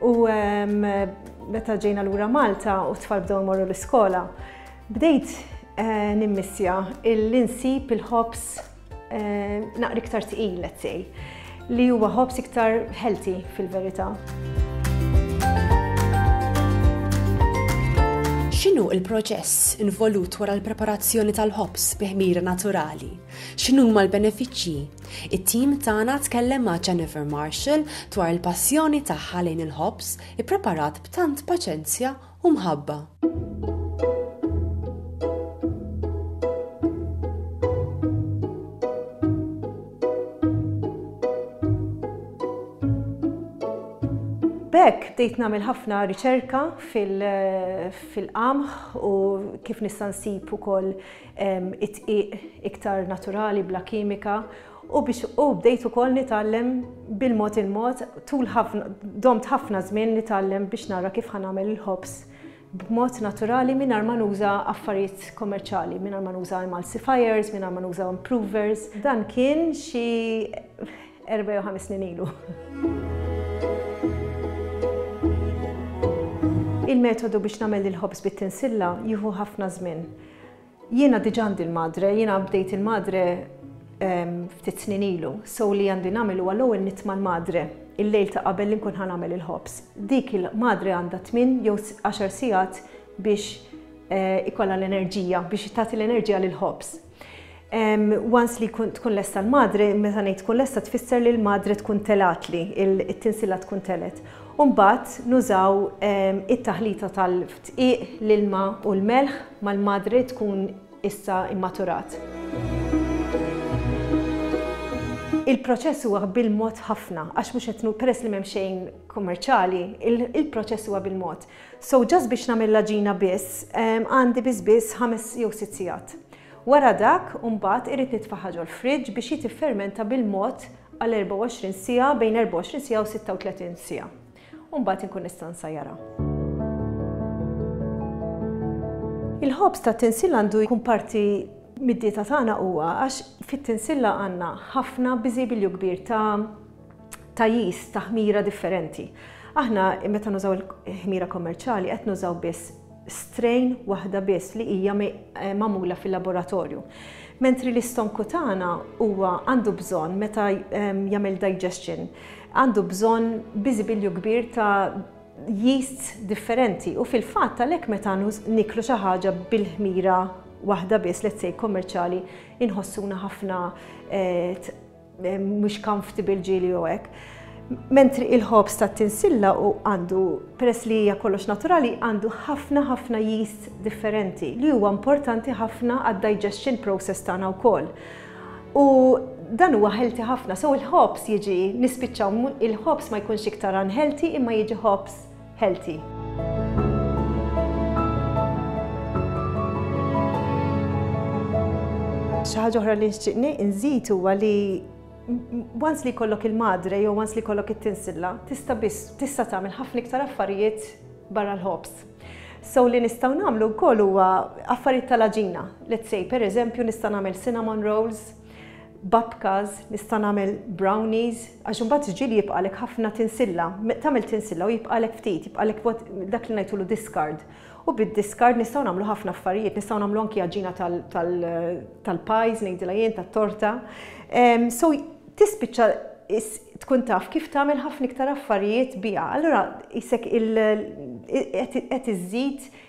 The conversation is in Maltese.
U meta ġejna lura Malta u t-tfal bdew imorru l-iskola, bdejt eh, nimmissja il-insib il-ħobs eh, naqri iktar tqil, let's say, li huwa ħobs iktar healthy fil-verità. X'inhu il-proċess involut wara l-preparazzjoni tal-ħobs bi ħmira naturali? X'inhu ma l-benefiċċji It-tim tagħna tkellem ma' Jennifer Marshall dwar il-passjoni tagħha lejn il-ħobż ippreparat b'tant paċenzja u mħabba. B'hekk bdejt nagħmel ħafna riċerka fil-qamħ u kif nista' nsib ukoll id-dqiq iktar naturali bla kimika u biex u bdejt ukoll nitgħallem bil-mod il-mod tul ħafna domt ħafna żmien nitgħallem biex nara kif ħa nagħmel il-ħobż b'mod naturali mingħajr ma nuża affarijiet kommerċjali, mingħajr ma nuża emulsifiers, mingħajr ma nuża improvers. Dan kien xi erba' jew ħames snin ilu. Il-metodu biex nagħmel il-ħobż bit-tinsilla jieħu ħafna żmien. Jiena diġà għandi l-madre, jiena bdejt il-madre ftit snin ilu, so li għandi nagħmel huwa l-ewwel nitma' l-madre il-lejl ta' qabel li nkun ħa nagħmel il-ħobż. Dik il-madre għandha tmien jew għaxar sigħat biex ikollha l-enerġija, biex tagħti l-enerġija lill-ħobż. Once li jkun tkun lesta l-madre, meta ngħid tkun lesta tfisser li l-madre tkun telatli, it-tinsila tkun telet. U mbagħad nużaw it-taħlita tal-dqiq, l-ilma u l-melħ mal-madre tkun issa mmaturat. Il-proċess huwa bil-mod ħafna għax mhux qed peress li m'hemm xejn kummerċjali, il-proċess huwa bil-mod. So just biex nagħmel l-għaġina biss għandi biss biss ħames jew sitt sigħat. Wara dak, imbagħad irrid nitfagħha ġol-friġġ biex hi tiffermenta bil-mod għal 24 siegħa, bejn 24 siegħa u 36 siegħa. U mbagħad inkun nista' nsajjarha. Il-ħobż tat-tinsilla għandu jkun parti mid-dieta tagħna huwa għax fit-tinsilla għandna ħafna biżibilju kbir ta' ta' jis ta' ħmira differenti. Aħna meta nużaw il-ħmira kommerċjali qed nużaw biss strain waħda biss li hija magħmula fil-laboratorju. Mentri li stonku tagħna huwa għandu bżonn meta jagħmel digestion, għandu bżonn biżibilju kbir ta' yeasts differenti u fil-fatt għalhekk meta niklu xi ħaġa bil-ħmira waħda biss, let's say kommerċjali, inħossuna ħafna eh, mhux comfortable ġieli jew hekk. Mentri il-ħobż tat-tinsilla u għandu, peress li hija kollox naturali, għandu ħafna ħafna yeast differenti li huwa importanti ħafna għad-digestion process tagħna wkoll. U dan huwa healthy ħafna, so il-ħobż jiġi nispiċċaw il-ħobż ma jkunx iktar unhealthy imma jiġi ħobż healthy. Xi ħaġa oħra li nxtieqni nżid huwa li once li kollok il-madre jew once li kollok it-tinsilla, tista' biss tista' tagħmel ħafna iktar affarijiet barra l-ħobs. So li nistgħu nagħmlu wkoll huwa affarijiet tal-aġina. Let's say pereżempju nista' nagħmel cinnamon rolls, babkas, nista' nagħmel brownies, Għax imbagħad ġieli jibqgħalek ħafna tinsilla, tagħmel tinsilla u jibqgħalek ftit, jibqgħalek dak li ngħidtulu discard. U bid-discard nistgħu nagħmlu ħafna affarijiet, nistgħu nagħmlu anki għaġina tal-pies ngħidilha jien, tat-torta. So tispiċċa tkun taf kif tagħmel ħafna iktar affarijiet biha. Allura qisek qed iżżid